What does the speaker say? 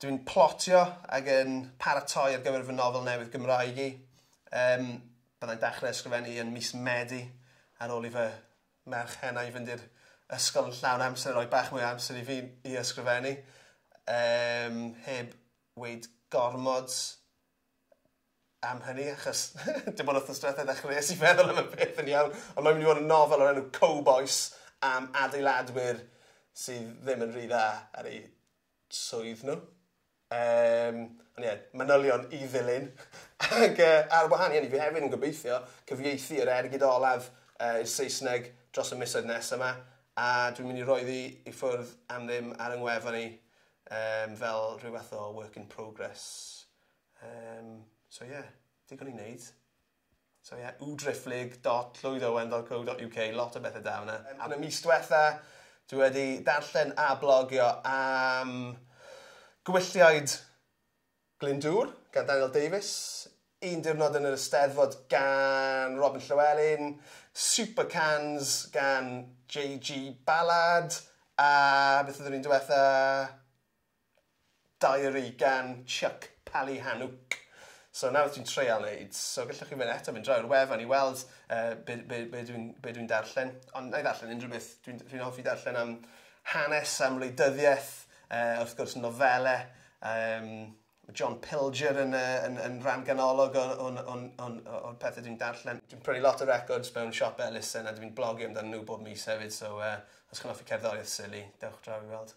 Dw i'n plotio ac yn paratoi ar gyfer fy nofel newydd Gymraeg i. Yym, bydda i'n dechrau ysgrifennu yn mis Medi ar ôl i fy merch hena-i fynd i'r ysgol yn llawn amser a rhoi bach mwy o amser i fi i ysgrifennu. Yym, heb weud gormod. am hynny achos dim ond wthnos diwetha ddechreues i feddwl am y peth yn iawn ond mae'n mynd i fod yn nofel o'r enw Cowbois am adeiladwyr sydd ddim yn rhy dda ar eu swydd nhw. Um, ond ie, yeah, manylion i ddilyn. Ac uh, ar wahan i hynny, fi hefyd yn gobeithio cyfieithu yr ergyd olaf uh, i'r Saesneg dros y misoedd nes yma, a dwi'n mynd i roi ddi i ffwrdd am ddim ar yng ngwefan i um, fel rhyw fath o work in progress Yym, so ie, digon i wneud. So ie, www.driftlyg.llwydowen.co.uk, lot o bethau da yna. Yn y mis diwetha, dwi wedi darllen a blogio am Gwylliaid Glyndŵr gan Daniel Davies, Un Diwrnod yn yr Eisteddfod gan Robin Llywelyn, Super Cans gan JG Ballard, a beth oedd yr un diwetha? Diary gan Chuck Palahniuk. So nawr ti'n treial neud, so gallwch chi mynd eto mynd draw i'r wefan i weld uh, be, be, be dwi'n dwi darllen. Ond na i ddarllen unrhyw beth. Dwi'n dwi, hoffi darllen am hanes, am wleidyddiaeth, uh, wrth gwrs nofelau. Um, John Pilger yn, uh, yn, yn rhan ganolog o'n, on, on, on, on pethau dwi'n darllen. Dwi'n prynu lot o records mewn siop Ellison a dwi'n blogio amdano nhw bob mis hefyd, so uh, os chi'n hoffi cerddoriaeth sili, dewch draw i weld.